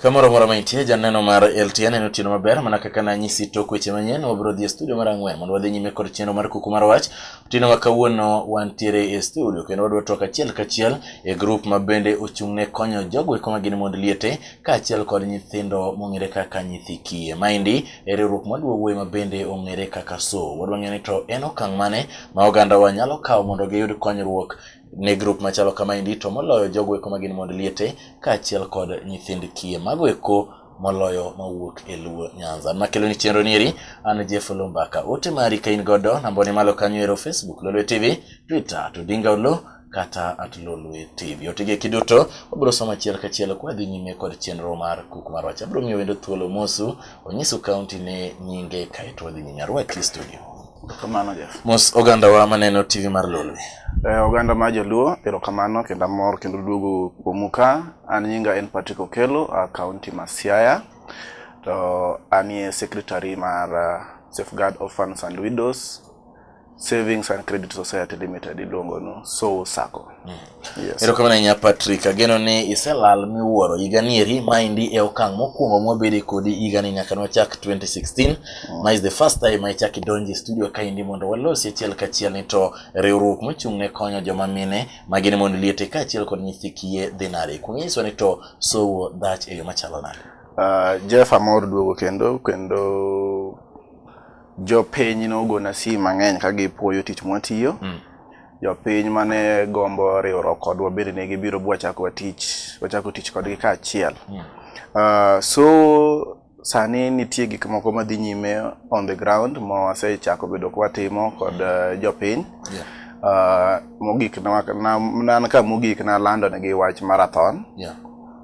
Kamoro moro mantie janeno mar LTN en otieno maber mana kaka nanyisi tok weche manyien wabiro dhi e studio mar ang'wen mondo wadhi nyime kod chenro mar kuku mar wach. Otieno ma kawuono wantiere e studio kendo wadwa twak achiel kachiel e grup ma bende ochung' ne konyo jogo eko ma gin mond liete kaachiel kod nyithindo mong'ere kaka nyithi kiye. Maendi e riwruok maduo wuoyi ma bende ong'ere kaka so. Wadwa ng'eyo ni to en okang' mane ma ogandawa nyalo kawo mondo giyud konyruok ne grup machalo kamaendi to moloyo jogo eko ma gin mond liete kaachiel kod nyithind kiye. Mago eko moloyo mawuok e Luo Nyanza. Makelo ni chenro nieri an Jeff Lumbaka. Ote mari ka in godo nambone malo kanyo ero Facebook Lolwe TV, Twitter to Dinga Olo kata at Lolwe TV. Otege kiduto wabiro somo achiel kachiel kwa dhi nyime kod chenro mar kuku mar wach. Abiro miyo wendo thuolo mosu onyisu kaunti ne nyinge kaeto wadhi nyime arwaki studio. Kamano Jeff. Mos oganda wa maneno TV mar Lolwe. Eh, oganda ma joluo erokamano kendo amor kendo duogo kuomu ka an nyinga en Patrick Okelo a kaunti ma Siaya to anie secretary mar uh, Safeguard Orphans and Widows Savings and Credit Society Limited iluongo no Soul Sacco. Mm. Yes. Erokamano ahinya Patrick, ageno ni iselal miwuoro higani eri maendi e okang' mokwongo mwabede kodi higani nyaka nwachak 2016 mm. ma is the first time ma ichak idonje studio kaendi mondo walosi achiel kachiel ni to riwruok mochung' ne konyo joma mine ma gin mond liete kaachiel kod nyithi kiye dhi nade. Kuong' nyiswa ni to sowo dhach e yo machalo nade? Uh, Jeff amor duogo kendo kendo Jopiny nogona si mang'eny ka gipuoyo tich mwatiyo. Mm. Jopiny mane gombo riwruok kodwa bende ne gibiro bwachako tich, wachako tich kodgi kaachiel. Mm. Uh, so sani nitie gik moko madhi nyime on the ground ma wasechako bedo kwatimo kod uh, jopiny. Yeah. Uh, mogik na, na, na, na ka mogik nalando negi wach marathon. Yeah.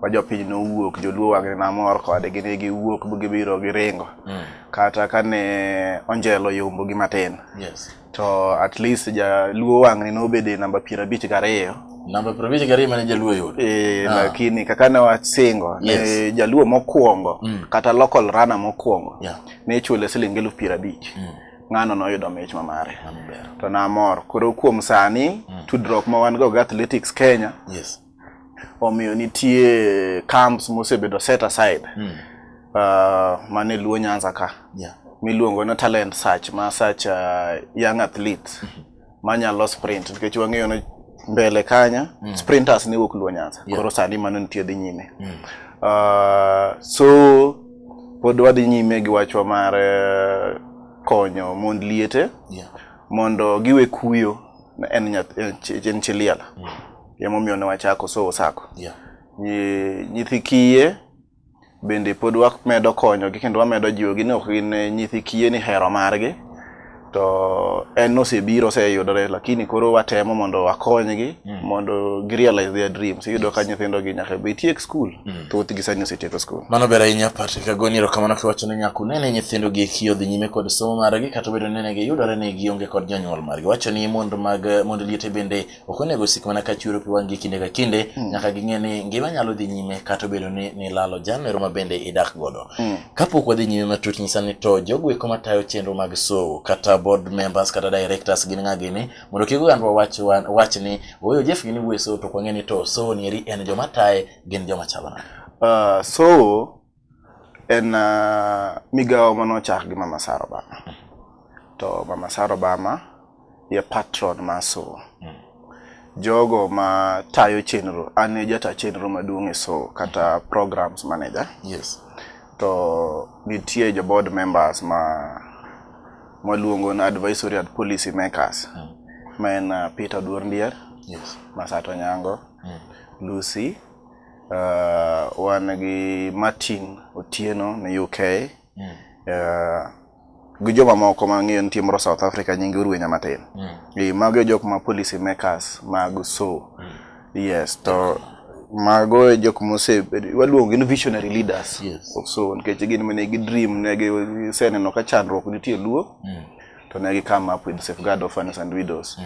ma jopiny nowuok joluo wang'ni namor kode gini giwuok gibiro giringo mm. kata kane onjelo yombo gi matin yes. to at least jaluo wang'ni nobede namba piero abich gariyo namba piero abich gariyo mane jaluo yudo e, ah. lakini kaka ne wasingo yes. ne jaluo mokwongo mm. kata local rana mokwongo yeah. ne chule siling eluf piero abich mm. ng'ano noyudo mich ma mare to namor koro kuom sani mm. tudruok ma wan go gi athletics kenya yes. omiyo nitie camps mosebedo set aside mm. uh, mane luo nyanza ka yeah. miluongo na talent search ma search uh, young athlete mm -hmm. manyalo sprint nikech wang'eyo ni mbele kanya mm. sprinters ne wuok luo nyanza yeah. koro sani mano nitie dhi nyime mm. uh, so pod wadhi nyime gi wachwa mar eh, konyo mond liete yeah. mondo giwe kuyo en, en, en, en chiliela mm. Emomiyo ne wachako Sowo Sacco. Yeah. Nyi- Nyithi kiye bende pod wamedo konyogi kendo wamedo jiwogi ni ok gin eh, nyithi kiye ni hero margi to en osebiro oseyudore lakini koro watemo mondo wakonygi mondo girealize their dreams iyudo ka nyithindogi nyaka be tiek skul thothgi sani osetieko skul Mano ber ahinya Patrick Agoni, erokamano kiwacho ne nyako nene nyithindo gi eki odhi nyime kod somo margi kata obedo ni ne giyudore ni gionge kod jonyuol margi. Wacho ni mond mag mond liete bende ok onego osik mana ka chwero pi wang'gi kinde ka kinde mm. nyaka ging'e ni ngima nyalo dhi nyime kata obedo ni nilalo janero ma bende idak godo mm. kapok wadhi nyime matut nyisa ni to jogo eko matayo chenro mag sowo kata board members kata directors gin ng'a gini mondo kik ogandwa wach, wach ni ooyo jeff gini wuoye sowo to kwang'e ni to sowo nieri en joma taye gin joma chalo nade uh, sowo en uh, migawo ma nochak gi mama sara obama to mama sara obama ye patron ma sowo mm. jogo ma tayo chenro an e jata chenro maduong' e sowo kata programs manager yes. to nitie jo board members ma mwaluongo na advisory and policy makers mm. ma en uh, peter duor ndier yes. masato nyango mm. lucy Uh, wan gi Martin Otieno ni UK. Mm. Uh, gi joma moko ma ng'eyo nitie moro South Africa nyinge Urwenya matin. Mm. E, mago e jok ma policy makers mag so. Mm. Yes, to mago e jok mose waluongo gin visionary leaders. Yes. So nikech gin mane gi dream ne gi seneno ka chandruok nitie luo. Mm. to ne gi come up with safeguard orphans and widows mm.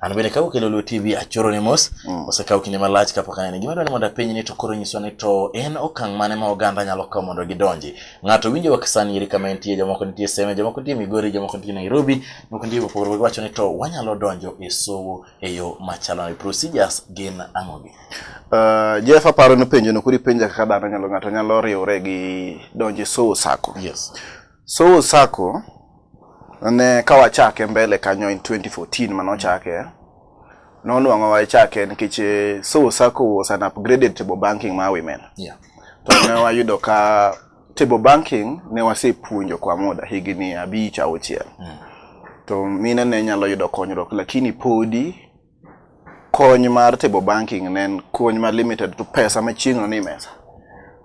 An bende ka ukelo Luo TV achoro ni mos, mm. osekawo kinde malach kapok anene. Gima dwaro ni mondo apenj ni to koro nyiswa ni to en okang' mane ma oganda nyalo kawo mondo gidonji. Ng'ato winjo wak sani iri kama entie, jomoko nitie Seme, jomoko nitie Migori, jomoko nitie Nairobi, jomoko nitie Bopogore, wacho ni to wanyalo donjo e sowo e yo machalo ni procedures gin ang'o gi? Uh, Jeff aparo ni penjo no kuri penja kaka dhano nyalo ng'ato nyalo riwre gi donjo e sowo sako. Yes. Sowo Sacco ne ka wachake mbele kanyo in 2014 mane ochake nonwang'o wachake nikech eh, Sowo Sacco was an upgraded table banking ma women. Yeah. To ne wayudo ka table banking ne wasepuonjo kwa muda higni abich auchiel. Mm. To mine ne nyalo yudo konyruok lakini podi kony mar table banking ne en kony ma limited to pesa ma chieng'no ni mesa.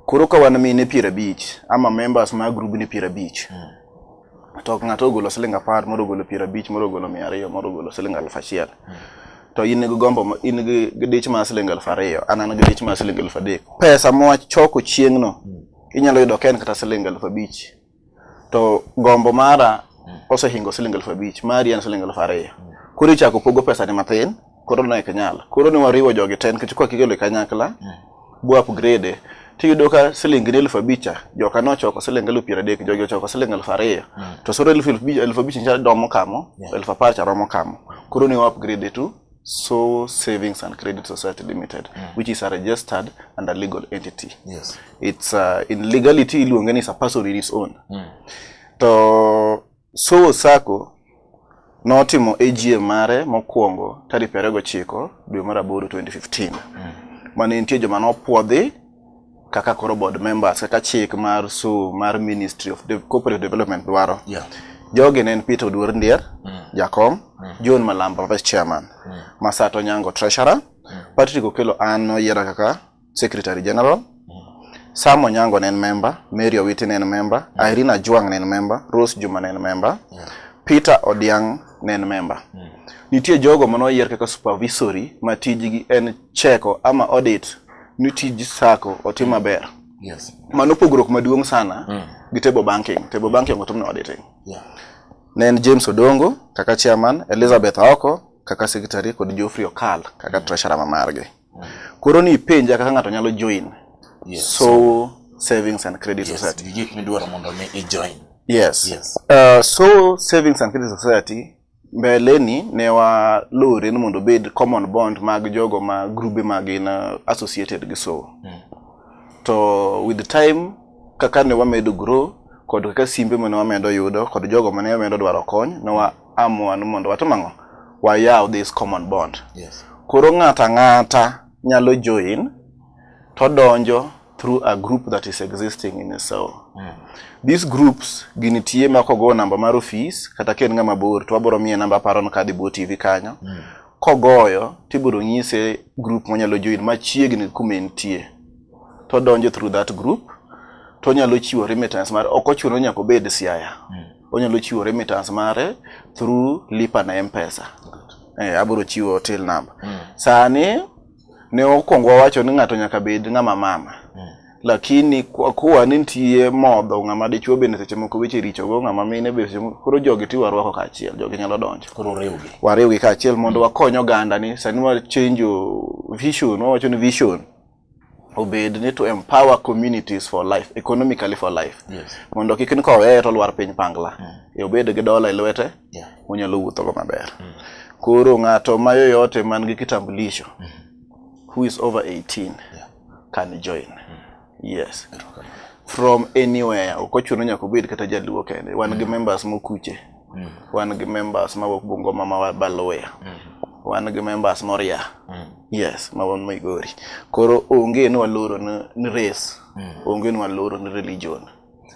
Koro ka wan mine piero abich ama members ma grubni piero abich mm. to ng'ato ogolo siling apar moro ogolo piero abich moro ogolo mia ariyo moro ogolo siling aluf achiel mm. to in gi gombo in gi dich mar siling aluf ariyo an an gi dich mar siling aluf adek pesa mwa choko chieng'no mm. inyalo yudo ka en kata siling aluf abich to gombo mara osehingo siling elfu abich mari en siling elfu ariyo koro ichako pogo pesa ni matin koro ne ok nyal koro ne wariwo jogi ten nikech kwa kikelo e kanyakla bo upgrade tiyudo ka siling ni elfu abich cha joka nochoko siling elfu piero adek jogi ochoko siling elfu ariyo to soro elfu elfu abich- elfu abich cha romo kamo Yeah. elfu apar cha romo kamo koro ne wa upgrade tu Soul Savings and Credit Society Limited, mm. which is a registered and a legal entity. Yes. It's uh, in legality iluonge ni Sapaso in its own. Mm. To Soul Sacco notimo AGM mare mokwongo tarik 29 dwe mar aboro 2015. Mm. Mane nitie joma nopwodhi kaka koro board members kaka chik mar su mar ministry of De corporate development dwaro yeah. jogi ne en peter oduor ndier mm. jakom mm. john malamba vice chairman mm. masato nyango treasurer mm. patrick okelo an noyiera kaka secretary general Sam Onyango ne en member, Mary Owiti ne en member, yeah. Irene Ajwang ne en member, Rose Juma ne en member, yeah. Peter Odiang ne en member. Mm. Nitie jogo manoyier kaka supervisory ma tijgi en cheko ama audit ni tij sako otim mm. maber yes. mano pogruok maduong' sana mm. gi table banking table banking otim nade te yeah. ne en James Odongo kaka chairman Elizabeth Aoko kaka secretary kod Geoffrey Okal kaka mm. treasurer ma margi mm. koro ni penja kaka ng'ato nyalo join yes. so, so savings and credit yes. society gik midwaro mondo mi i join yes, yes. Uh, so savings and credit society Mbeleni ne walore ni mondo obed common bond mag jogo ma grube ma gin uh, associated gi sowo. Mm. To with the time kaka ne wamedo grow kod kaka simbe mane wamedo yudo kod jogo mane wamedo dwaro kony ne wa amua ni mondo watim ang'o? Wayaw this common bond. Yes. Koro ng'ata ng'ata nyalo join todonjo through a group that is existing in a cell. Mm. These groups ginitie ma kogo namba mar ofis kata ka en ng'ama bor to wabiro miye namba aparo ni kadhi bwo TV kanyo. Mm. Kogoyo tibiro nyise group monyalo join machiegni kuma entie. To donjo through that group to onyalo chiwo remittance mare ok ochuno ni nyaka obed Siaya. Mm. Onyalo chiwo remittance mare through Lipa na M-Pesa. Eh, abiro chiwo till number. Mm. Sani ne okwongo wawacho ni ng'ato nyaka bed ng'ama mama mm. lakini kwa kuwa ni nitie modho ng'ama dichuo bende seche moko weche richo go ng'ama mine be seche moko koro jogi ti warwako kaachiel jogi nyalo donjo koro riwgi wariwgi kaachiel mondo mm. wakony oganda ni sani wa change vision wawacho ni vision obed ni to empower communities for life economically for life yes. mondo kik ni koweye to lwar piny pangla mm. e obed gi dola e lwete yeah. onyalo wuothogo maber mm. koro ng'ato ma yoyote man gi kitambulisho mm. who is over 18 yeah. can join mm. yes from anywhere ok ochuno nyaka obed kata jaluo kende wan mm. gi members mokuche mm. wan gi members mawuok bungoma ma baluya mm. wan gi members moria mm. yes ma wan migori koro onge ni waloro ni race mm. onge ni waloro ni religion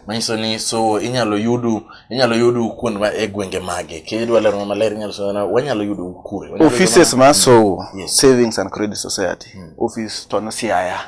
manyiso ni so inyalo yudu inyalo yudu kuond ma e gwenge mage kidwa lero maler inyalo so na wanyalo yudu kure offices ma so mm. yes. savings and credit society mm. office to no siaya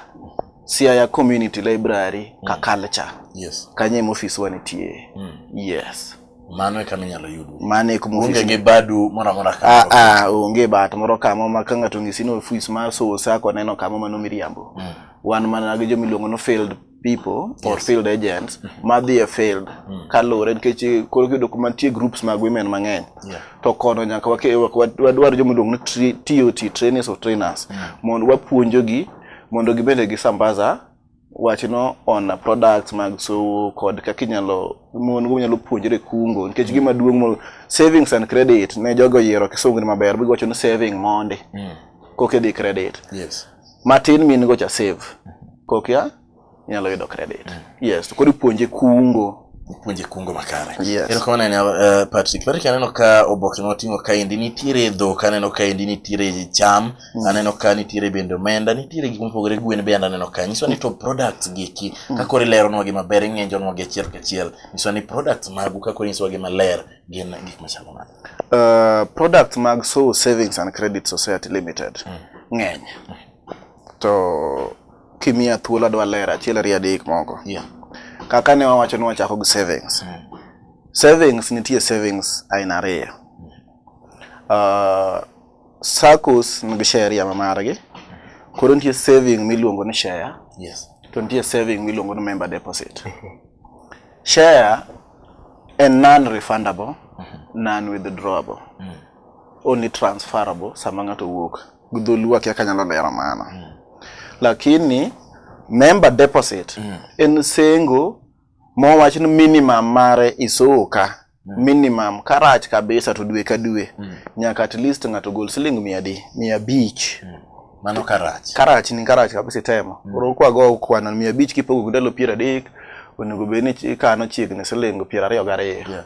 siaya community library mm. ka culture yes kanye mo office wanitie mm. yes mano e kama inyalo yudu mano e kuma onge gi badu moro amora ka ah, ah onge bat moro kama ma ka ng'ato ng'isi ni ofis ma so sako neno kama mano miriambo mm. wan mana gi jomiluongo no failed people or yes. field agents mm -hmm. madhi e field mm -hmm. kaluwore nikech eh, koro kiyudo kuma nitie groups mag women mang'eny yeah. to kono nyaka wadwar joma iluongo ni TOT trainers or trainers mm -hmm. mondo wapuonjogi mondo gibende gisambaza wachno on products mag sowo kod kaka inyalo mon go nyalo puonjre kungo nikech mm. gima duong' mo savings and credit ne jogo yiero kisungu ni maber bigo wacho ni saving mondi mm. koke di credit yes. matin min go cha save kokia nyalo yudo credit mm. yes to kodi puonje kungo puonje kungo makare yes. ero kamano anya uh, patrick patrick aneno ka oboke ma oting'o kaendi nitiere dhok aneno kaendi nitiere cham mm. aneno ka nitiere bende omenda nitiere gik mopogore gwen bende aneno ka nyiso ni to products gieki mm. ka koro ileronwa gi maber ing'enjonwa gi achiel kachiel nyiso ni products magu ka koro inyisowa gi maler gin gik machalo nade Uh, products mag Soul Savings and Credit Society Limited mm. ng'eny mm. to kimiya thuolo adwa lero achiel ariyo adek moko yeah. kaka ne wawacho ni wachako gi savings mm. savings nitie savings aina ariyo mm. uh, SACCOs nigi sheria ma margi koro nitie saving miluongo ni share yes. to nitie saving miluongo ni member deposit share A non-refundable, mm-hmm. non-withdrawable, mm. only transferable sama ng'ato wuok. Gudholuo akia kanyalo lero mano. Mm. Lakini member deposit mm. en sengo mowach ni minimum mare isoka mm. minimum karach kabisa to dwe ka dwe mm. nyaka at least ng'ato gol siling mia adi mia abich mm. Mano karach. Karach ni karach kabisa itemo. Mm. Koro kwa go kwano mia abich kipogo ndalo piero adek onego bed ni ikano chiegni silingo piero ariyo gariyo. Yeah.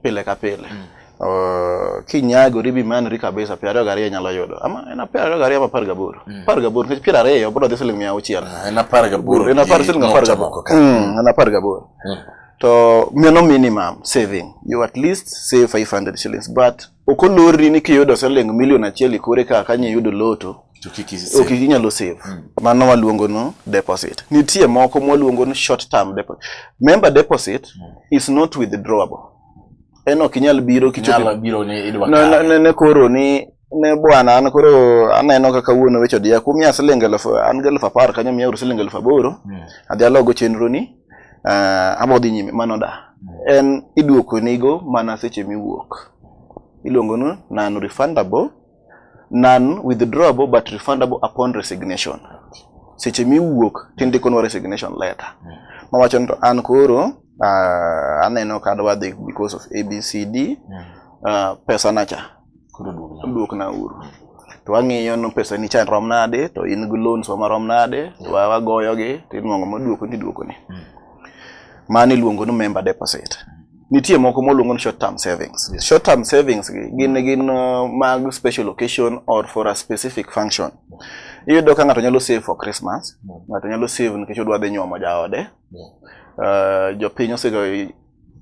Pile ka pile. Mm. Uh, kinyagori bi manori kabisa piero ariyo gariyo inyalo yudo ama en apar ariyo gariyo ama apar gaboro mm. apar gaboro nikech piero ariyo bro dhi siling mia auchiel ah, en apar gaboro en apar siling apar gaboro mm, en apar gaboro mm. to mano minimum saving you at least save 500 shillings but ok olorri ni kiyudo siling milion achiel ikore ka kanye yudo loto to kik isi- ok inyalo save Mm. mano waluongo no deposit nitie moko mwaluongo ni short term deposit member deposit is not withdrawable en ok inyal biro kichopo nyalo biro ni idwa ne, ne, kawe. ne, ne koro ni ne bwana an koro aneno kaka wuon owecho diya kumiya siling elfu an gi elfu apar kanyo miya uru siling elfu aboro Mm. adhi alogo chenro ni uh, abodhi nyime mano da en iduoko nigo mana seche miwuok iluongo ni non refundable non withdrawable but refundable upon resignation seche miwuok tindikonwa resignation letter mawacho ni to an koro uh, aneno kadwa dhi because of abcd uh, pesa nacha Koro duogna. duokna uru to wang'iyo no pesa ni chan rom nade to in gi loans wa marom nade to wa- wagoyogi to inuang'o moduoko ni duokoni mano iluongo ni member deposit nitie moko moluongo ni short term savings short term savings gi gin gin uh, mag special occasion or for a specific function iyudo ka ng'ato nyalo save for christmas ng'ato nyalo save nikech odwa dhi nyuomo jaode Uh, jopiny osega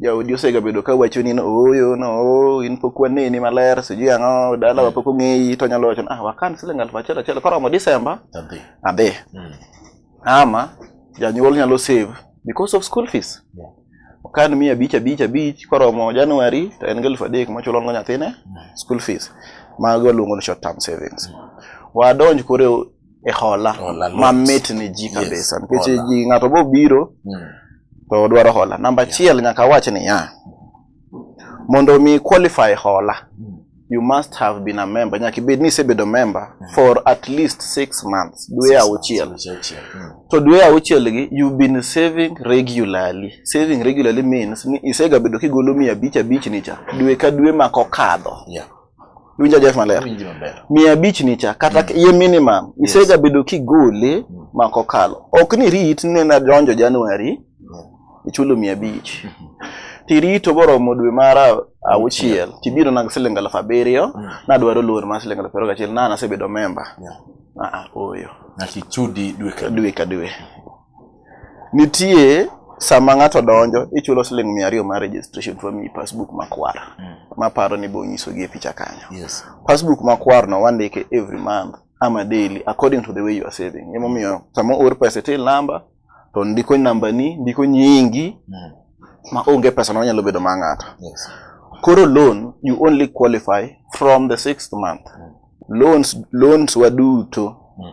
jaodi osegabedo ka wacho ni ooyo no oh, in pok waneni maler sijui ang'o dalawa mm. pok ong'eyi to nyalo wacho ah wakan siling aluf achiel achiel koromo December adhi mm. ama janyuol nyalo save because of school fees yeah. okan mia abich abich abich koromo January to en gi aluf adek mochulo ngo nyathine mm. school fees mago luongo ni short term savings wadonj koro e hola Hola lit. ma mit ne ji Yes, kabisa nikech hola. ji ng'ato bo biro Mm. to odwaro hola namba achiel nyaka awach niya mondo mi qualify hola Mm. you must have been a member nyaka ibed ni isebedo member for at least six months dwe auchiel Dwe auchiel. Mm. to dwe auchiel gi you've been saving regularly saving regularly means ni isegabedo kigolo mia abich abich ni cha dwe ka dwe ma kokadho Yeah. Iwinja Jeff maler. Awinji maber. Mia abich nicha kata ye minimum Yes. isegabedo kigole Mm. ma kokalo. Ok ni rit ni na donjo January ichulo mia abich. Tirito boromo dwe mar a- auchiel tibiro nag siling alaf abiriyo Mm. nadwaro loan mar siling alaf abiriyo gachiel na nasebedo memba. Yeah. Ah, ah, oyo. Nyaka ichudi dwe ka dwe. dwe ka dwe Nitie sama ng'ato donjo ichulo siling mia ariyo mar registration to wamiyi passbook makwar mm. maparo ni bo nyisogi e picha kanyo yes. passbook makwar no wandike every month ama daily according to the way you are saving emomiyo sama oor pesa e till number to ndiko namba ni ndiko nyingi mm. ma onge pesa no nyalo bedo ma ng'ato yes. koro loan you only qualify from the sixth month mm. loans loans waduto mm.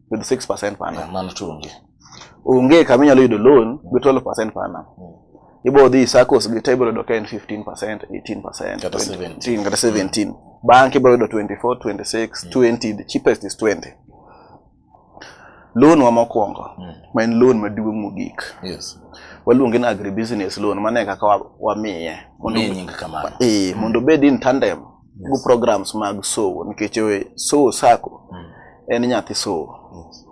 with 6% per annum. Mano to onge. Onge kama inyalo yudo loan gi 12% per annum. Mm. Ibo dhi SACCOs gi table yudo ka en 15%, 18%, kata 17, kata 17. Mm. Bank ibo yudo 24, 26, mm. 20, the cheapest is 20. Loan wa mokwongo, mm. ma en loan maduong' mogik. Yes. Waluonge ni agribusiness loan, mano e kaka wamiye. Wamiye nying kamano. Eh, mondo obed in tandem. yes. programs mag sowo nikech sowo sako mm. en nyathi sowo yes.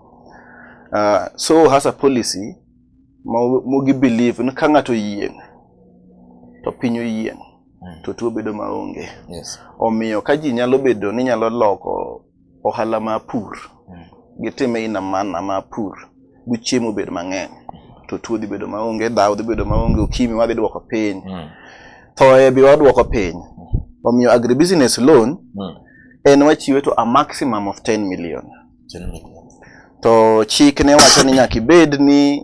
uh, ah, sowo has a policy mogi believe ni ka ng'ato yieng' to piny oyieng' mm. to tuo bedo maonge yes. omiyo ka ji nyalo bedo ni nyalo loko Ohala ma pur mm. gitime in a man ama pur bu chiemo bed mang'eny to tuo dhi bedo maonge, dhaw dhi bedo maonge, ukimi wadhi dwoko piny, mm. thoye bi wadwoko piny. Mm. Omiyo agribusiness loan mm. en wachiwe to a maximum of 10 million. 10 million. To chik ne wacho ni nyaka ibed ni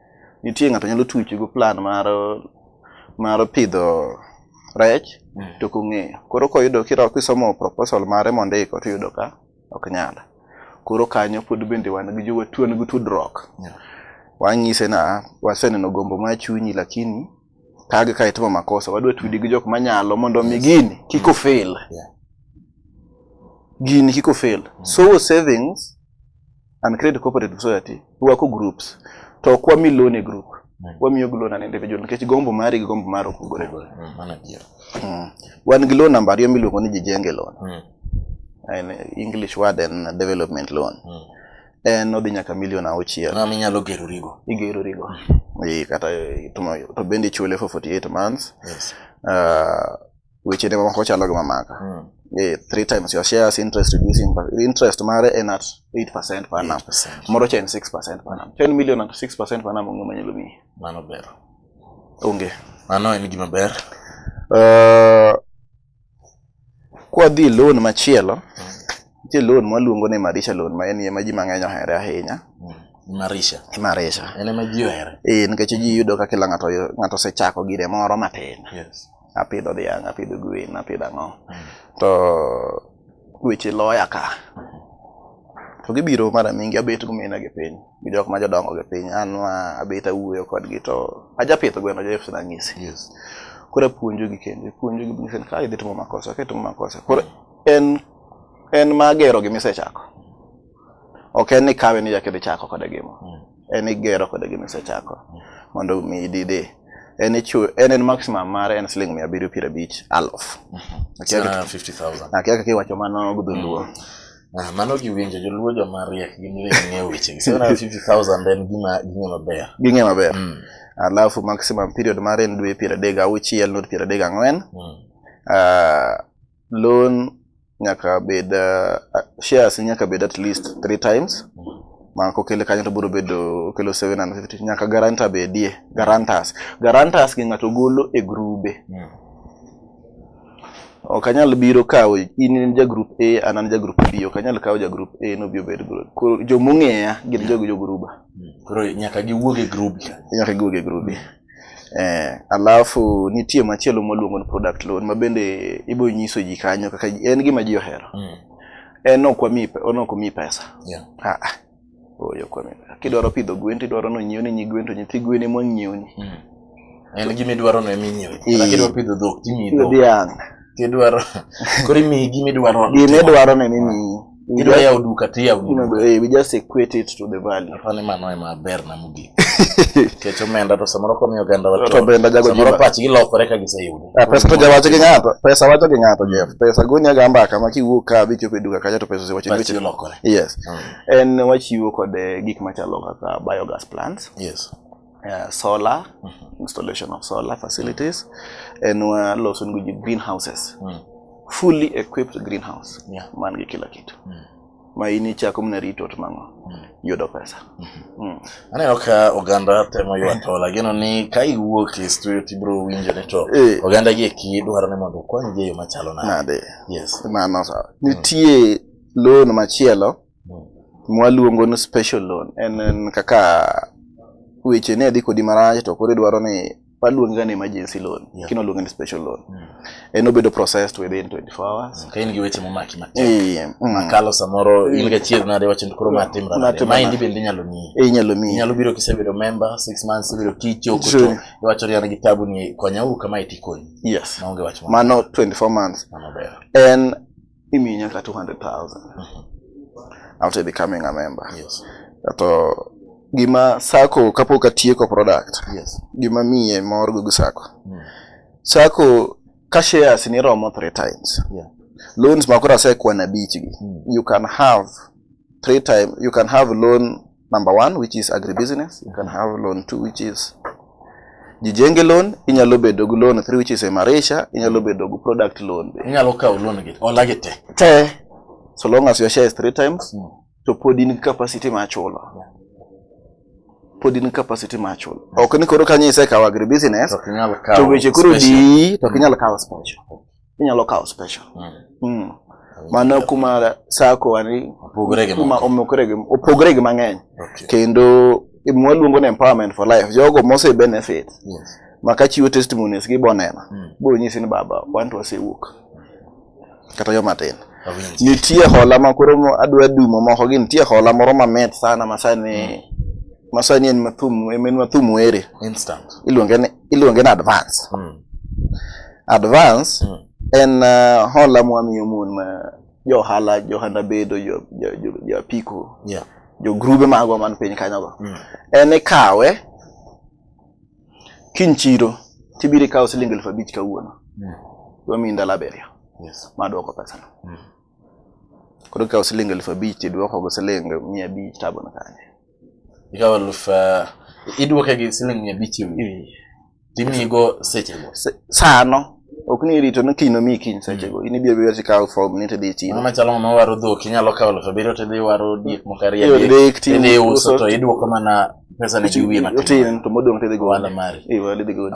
nitie ng'ato nyalo tuchi go plan mar mar pidho rech mm. to kong'eyo koro koyudo kira kisomo proposal mare mondiko to yudo ka ok nyal koro kanyo pod bende wan gi jowa tuon gi tudruok yeah. wanyise na waseneno gombo ma chunyi lakini kage ka itimo makosa wadwa tudi gi jok manyalo mondo mi gini kiko fail yeah. gini kiko fail mm. so savings and create cooperative society wako groups to ok wami loan e group mm. wamiyo gi loan an individual nikech gombo mari gi gombo mari opogore mm, mano adier mm. wan gi loan namba ariyo miluongo ni jijenge loan mm. en english word en development loan mm. en odhi nyaka milion auchiel ma minyalo gerorigo igerorigo mm. kata to bende ichule for 48 months yes. uh, weche ne moko chalo gi mamaka mm. yeah, three times your shares interest reducing interest mare en at 8 percent per annum moro cha en 6 percent per annum 10 million at 6 percent per annum onge manyalo miyi mano ber onge mano en gima ber uh, kwadhi loan machielo mm. nitie mm. loan mwaluongo ni marisha loan ma en ye ma ji mang'eny ohere ahinya mm. Imarisha. Imarisha. En ema ji ohere. Eh, nikech ji yudo ka kila ng'ato ng'ato osechako gire moro matin. Yes. apidho dhiang' apidho gwen apidho ang'o to weche loya ka to gibiro mara mingi abet gumina gi piny gi jok ma jodongo gi piny an ma abet awuoyo kodgi to ajapidho gweno joseph nang'isi yes. koro apuonjogi kendo puonjogi ng'ise ni ka idhi timo makosa ka itimo makosa koro en en magero gi misechako ok en ni kawe ni jakidhi chako kode gimo mm. en igero kode gima isechako mondo mi idide en ichu en en maximum mare en siling mia abiriyo piero abich aluf Akia kaka- Sana 50,000. akia kaka iwacho mano gudhuluo Ah, mano giwinjo joluo joma riek gin riek ng'eyo wechegi 750,000 en gima ging'e maber ging'e maber Mm, alafu maximum period mare en dwe piero adek gauchiel not piero adek gang'wen mm. Ah, loan nyaka bed uh, shares nyaka bed at least three times ma kokele kanyo to biro bedo okelo 750 nyaka guarantor bedie guarantors guarantors gi ng'ato golo e grube Mm. ok anyal biro kawo in in ja group A an an ja group B ok anyal kawo ja group A no bi obed group koro jomong'eya gin jogo jo gruba Koro nyaka giwuog e group. nyaka giwuog e grubi Eh, alafu nitie machielo mwaluongo ni product loan ma bende ibo nyiso ji kanyo kaka ji- en gima ji ohero. Mm. En ok wami pe- en ok omi pesa. Yeah. Ah, ah. Oyo kwa mimi. Kidwaro pidho gwen tidwaro no nyiew ni nyi gwen to nyithi gwen ema nyiew ni. Mm. En gima idwaro no eminyiew. Eh. Kata kidwa pidho dhok timiyi dhok. Dhiang'. Kidwaro kori mi gimi dwaro. Gimi dwaro ne mimi. Idwa ya uduka ti ya uduka. We just equate it to the value. Apane mano ema ber na mugi. Kecho menda to samoro ko miyo ganda wato. To benda jago jima. Samoro pachi ilokore ka gise yudo. Ah, pesa to jawacho gi ng'ato. Pesa wacho gi ng'ato Jeff. Pesa gonya ga mbaka ma kiwuok ka bi chopo duka kacha to pesa se wacho gi lokore. Yes. Hmm. En wachiwo kod eh, gik machalo kaka biogas plants. Yes. uh, solar mm -hmm. installation of solar facilities and wa loso ni ji greenhouses mm. fully equipped greenhouse yeah. man gi kila kitu mm. ma in ichako mna rito to mang'o mm. yudo pesa mm -hmm. mm. aneno ka oganda temo ywa to lagino ni ka iwuok e studio tibro winjo ni to eh. oganda gi eki dwaro ni mondo okony gi e yo machalo nade yes mano sawa mm. nitie loan machielo mwaluongo ni special loan en en kaka weche ne dhi kodi marach to koro idwaro ni waluonge ga ni emergency loan Yeah. kino luonge ni special loan Mm. en obedo processed within 24 hours Ka in gi weche momaki matek. Eh, mm. Makalo samoro in ga chier nade wacho ni koro ma timra nade. Natimra Ma indi nade. bende inyalo miyi. Eh, inyalo miyi Inyalo biro kisebedo member 6 months ibiro kicho kuto. Sure. Iwacho ni an gi tabu ni konya u kama itikonyi. yes Maonge wach moro. mano 24 months Mano ber. en Mimi ni nyaka 200,000. Mm -hmm. After becoming a member. Yes. Kato gima sako kapok atieko product. Yes. Gima miye mor gugu sako. Mm. Sako ka shares ni romo three times. Yeah. Loans makora sekwa na beach gi. Mm. You can have three time you can have loan number one which is agribusiness you can have loan two which is jijenge loan inyalo bedo gi loan three which is emarisha inyalo bedo gi product loan be inyalo kawo loan gi ola gi te te so long as your share is three times mm. to pod in capacity ma chulo pod in capacity ma chulo ok ni koro kanyo isekawo agribusiness to weche koro di to kinyalo kawo special inyalo kawo special mm. Mm. mano kuma sako ani opogore gi mang'eny okay. kendo mwaluongo ni empowerment for life jogo mose benefit yes. maka chiwo testimonies gi boneno mm. biro nyisi ni baba wanto wasewuok kata yo matin nitie hola ma koro adwa dumo moko gi nitie hola moro mamit sana masani mm. masani en mathum en mathum were iluonge ni iluonge ni advance. Mm. Advance mm. en uh, hola mwamiyo mon uh, jo ohala jo ohanda bedo jo, jo, jo, jo apiko yeah. jo grube magwa man piny kanyogo mm. en ikawe kiny chiro tibiro ikawo siling elfu abich kawuono mm. wamiyi ndalo abiriyo yes. madwoko pesano mm. koro ikawo siling elfu abich idwokogo siling mia abich tabono kanye ikawa elfu eh, iduoke gi siling mia abich timiyigo sechego sano ok ni irito ni kiny nomiyi kiny sechego mm. in ibiro biro tikawo form ni tidhi chiro mama chalo ng'ama waro dhok inyalo kawo elfu abiriyo tidhi waro diek moko ariyo adek tidhi uso to iduoko mana pesa ne gi wiye matin to modong' tidhi go ohala mari iwe idhi go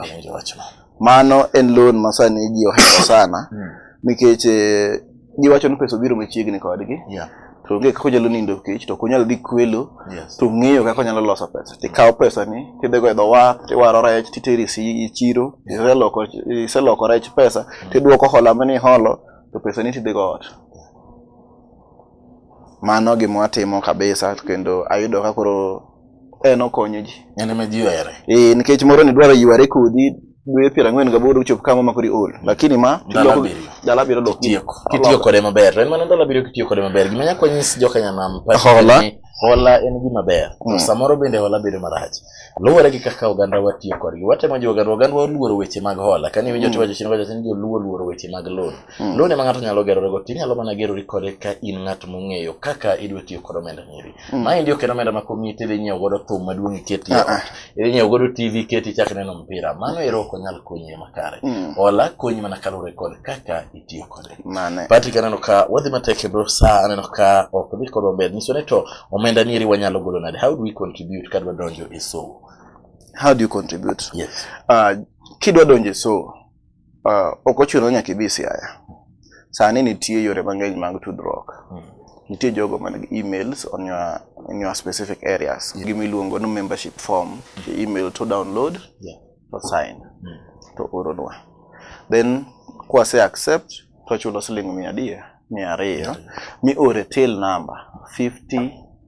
Mano en loan ma sani ji ohero sana mm. nikech eh, giwacho ni pesa obiro machiegni kodgi. Yeah to onge kaka onyalo nindo kech to onyalo dhi kwelo to ng'eyo kaka onyalo loso pesa tikawo pesa ni tidhigo e dho wath tiwaro rech titeri e chiro iseloko rech pesa mm. tidwoko hola mane iholo to pesa ni tidhigo ot mano gima watimo kabisa kendo ayudo ka koro en okonyo ji en ema ji ohere eh nikech moro ni dwaro yware kodi dwe piero ang'wen gaboro uchop kama ma kori ol lakini ma dala abiriyo dok kitiyo kode maber en mana dala abiriyo kitiyo kode maber gima nyako nyis jokanyanam hola hola en gima ber mm. samoro bende hola bedo marach luwore gi kaka oganda watiyo kodgi watemo jiwo oganda oganda waluoro weche mag hola kane winjo mm. tiwacho chien wacho ni joluo luoro weche mag loan Hmm. Loan ema ng'ato nyalo gerore go, tinyalo mana gerori kode ka in ng'at mong'eyo kaka idwa tiyo kod omenda nyiri. Hmm. Ma endi ok en omenda ma komiyi tidhi nyiewo godo thum maduong' iketi ah, ah. idhi nyiewo godo TV iketi ichak neno mpira. Mano ero ok onyal konyi ema kare. Hmm. Hola konyi mana kaluwore kod kaka itiyo kode. Mane. Patrick aneno ka wadhi matek e bro sa aneno ka ok dhi kodwa ber. Nyiso ni to omenda nyiri wanyalo golo nade? How do we contribute kadwa donjo e somo? How do you contribute? Yes. Uh, kidwa donjo e somo Uh, ok ochuno nyaka ibi Siaya. Sani nitie yore mang'eny mag tudruok. Hmm. Nitie jogo man gi emails on your, in your specific areas. Yeah. Gima iluongo ni membership form. The email to download, yeah. to sign, mm. to oronwa. Then kwase accept, to chulo siling mia adiye, mia ariyo, mi ore till number 50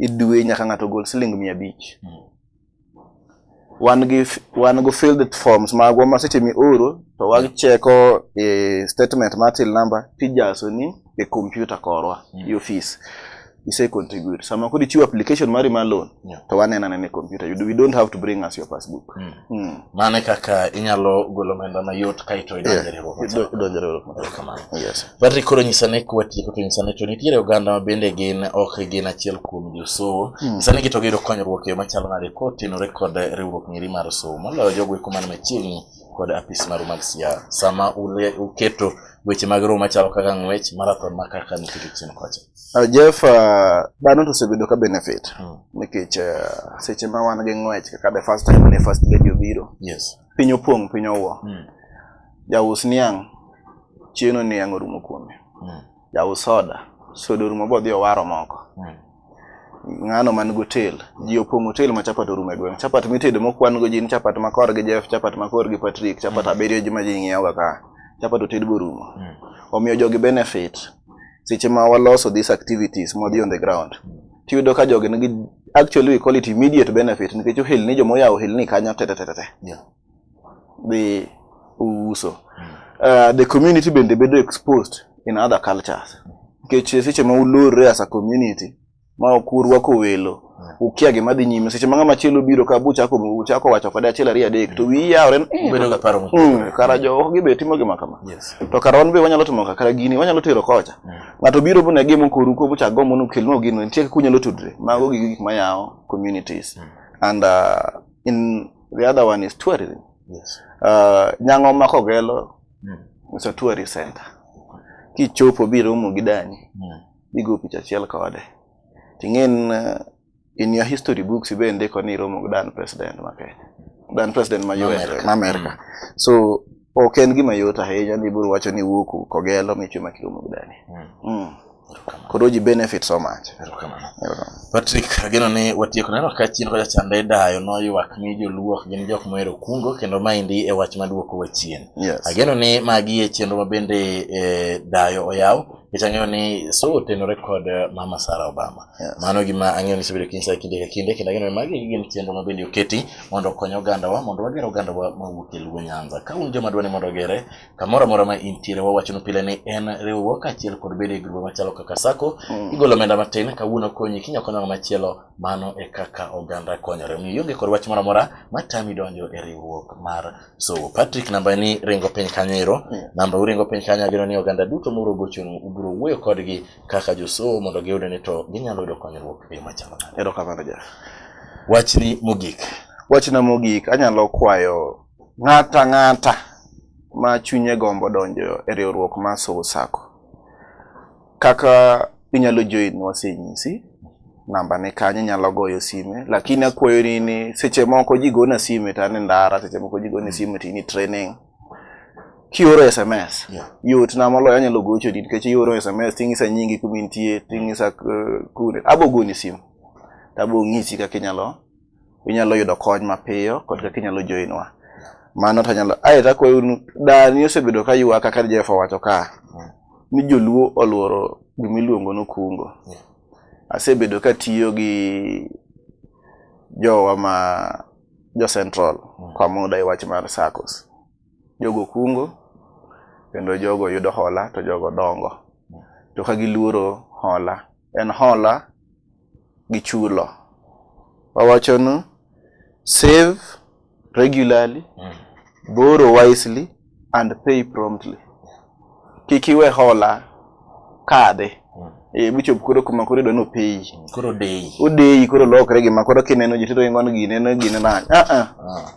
e dwe nyaka ng'ato gol siling mia abich wan gi wan go filled forms magwa ma seche mioro to wacheko e statement mar till number tijaso ni e computer korwa Mm. e office ise contribute sama kodi chiwo application mari mar loan Yeah. to wanena nene e computer you do, we don't have to bring us your passbook Mm. Hmm. Mano e kaka inyalo golo omenda mayot kaito idonjo e riwruok. Idonjo e riwruok maber kamano. Yes. Patrick koro nyisa ne kwa tieko to nyisa ne to nitiere oganda ma bende gin ok gin achiel kuom josowo. Hmm. Nyisa ne gito giyudo konyruok e yo machalo nade kotenore kod riwruok ngiri mar sowo. Moloyo jogo eko man machiegni kod apis maru mag siasa sama uketo weche mag romo machalo kaka ng'wech marathon ma kaka nitie chien kocha. Uh, Jeff, uh, dhano to osebedo ka benefit hmm. nikech uh, seche ma wan gi ng'wech kaka the first time ne first lady obiro yes. piny opong' piny owuo mm. jaus niang' chieno niang' orumo kuome mm. jaus soda soda orumo bodhi owaro moko mm. ng'ano man gotel ji opong' otel ma chapat orumo e gweng' chapat mitedo mokwan go jin chapat makor gi Jeff chapat makor gi Patrick chapat mm. abiriyo ji ma ji ng'iewoga ka chapat oted borumo mm. omiyo jogi benefit seche ma waloso these activities mwadhi on the ground tiyudo ka jogi nigi actually we call it immediate benefit nikech ohelni joma oyawo ohelni kanyo tetetetete Yeah. dhi uso uh, the community bende bedo exposed in other cultures nikech seche ma ulorre as a community ma ok urwako welo ukia gima dhi nyime seche ma ng'ama chielo biro ka buchako uchako wacho kode achiel ariyo adek to wiyi yawore mm, bedo ga paro mm, kara jo ok gibe timo gima kama to kara wan be wanyalo timo kara gini wanyalo tero kocha mm. ng'ato biro bu ne gimo koru ko bucha gombo nu kelno gino nitie kaka unyalo tudre mago gi gik ma yawo communities and uh, in the other one is tourism yes uh, nyango ma kogelo mm. it's a tourist center kichopo biro mu gidani mm. igo picha achiel kode ting'en uh, in your history books ibe ndiko ni iromo gi dan president ma Kenya dan president ma US ma America mm. so ok en gima yot ahinya ni biro wacho ni wuok kogelo michwe ma kiromo gi dani mm. mm. koro ji benefit so much Patrick ageno ni watieko neno ka chien kocha chande dayo noywak ni joluo ok gin jok mohero kungo kendo maendi e wach maduoko wa chien yes. ageno ni magi e chenro ma bende eh, dayo oyaw Itang'eyo ni so otenore kod eh, Mama Sarah Obama. Yes. Mano gima ang'eyo ni isebedo kinyisa kinde ka kinde kendo ang'eyo ni magi gin chenro ma bende oketi mondo okony ogandawa mondo wager ogandawa ma wuok e Luo Nyanza. Ka un joma dwa ni mondo ogere kamoro amora ma intiere wawachonu pile ni en riwruok kaachiel kod bedo e grube machalo kaka sako Mm. igolo omenda matin kawuono konyi kinya konyo ng'ama machielo mano e kaka oganda konyore. Omiyo ionge kod wach moro amora matami donjo e riwruok mar So Patrick namba ni ringo piny kanyo ero. Yeah. Namba uringo piny kanyo ageno ni oganda duto muro gochonu ubiro wuoyo kodgi kaka josomo mondo giyude ni to ginyalo yudo konyruok e yo machalo nade. Erokamano Jeff. Wachni mogik. Wachna mogik anyalo kwayo ng'ata ng'ata ma chunye gombo donjo e riwruok mar Soul Sacco. Kaka inyalo join wasenyisi namba ne kanyo inyalo goyo sime lakini akwayo ni ni seche moko ji gona sime to an e ndara seche moko ji gona sime to in e training kioro sms Yeah. yot na moloyo anyalo gochoni nikech ioro sms ting'isa nyingi kuma intie ting'isa eh, kune abogoni simu tabong'isi kaka inyalo unyalo yudo kony mapiyo kod kaka inyalo joinwa mano to anyalo ae takwayo unu dani osebedo ka ywaka ka jehova wacho ka ni joluo oluoro gima iluongo ni kungo asebedo ka tiyo gi jowa ma jo central mm. kwa muda e wach mar sacos jogo kungo kendo jogo yudo hola to jogo dongo to ka giluoro hola en hola gi chulo. Wawachonu save regularly, mm. borrow wisely and pay promptly. Kik iwe hola kadhi. Mm. Eh, bichop koro kuma koro idwa ni opeyi. Mm. Koro odeyi. Odeyi koro lokre gima koro kineno ji tito ingon gine ne gine na. Ah, ah. ah.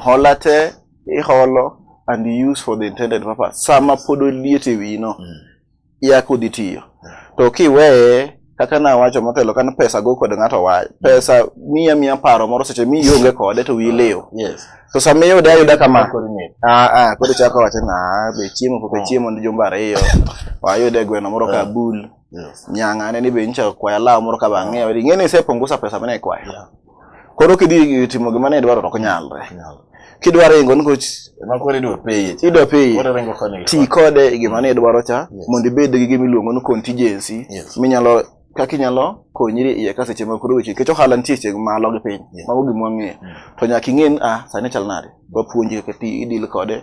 Hola te iholo and use for the intended purpose. Sama pod oliet e wino. Mm. ya kudhi tiyo to kiweye kaka nawacho motelo kan pesa go kod ng'ato wa pesa miya miya paro moro seche mi ionge kode to wiyi liw Yes. to sama iyude ayuda kama Koro ni- Ah, ah, koro chako wacho na ah, be chiemo pok achiemo ni jumba ariyo wayude gweno moro ka bul Yes. nyang'ane ni be nyicha kwaya law moro ka bang'eyo ing'e ni isepungusa pesa mane ikwayo Koro kidhi timo gima ne idwaro to ok nyalre. Kidwa ringo nikech Ema koro idwa peye. idwa peye Koro ringo koni. ti kode e gima ne idwaro cha Yes. mondo ibed gi gima iluongo ni contingency Yes. minyalo kaka inyalo konyri iye ka seche moko weche nikech ohala nitie seche malo gi piny Yes. mago gima wang'eyo Mm. to nyaka ing'e ni ah sani chal nade wapuonji kaka ti idil kode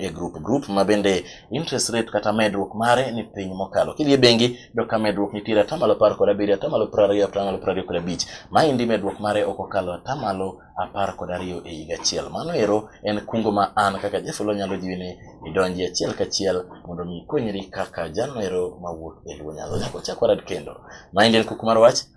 e group group ma bende interest rate kata medruok mare ni piny mokalo. Kidhi e bengi do ka medruok nitiere atamalo apar kod abiriyo, atamalo piero ariyo, atamalo piero ariyo kod abich. Maendi medruok mare ok okalo atamalo apar kod ariyo e higa achiel. Mano ero en kungo ma an kaka Jefolo nyalo jiwi ni idonji achiel kachiel mondo mi ikonyri kaka jano ero mawuok e luo nyalo. Nyako chakwa rad kendo. Maendi en kuku mar wach.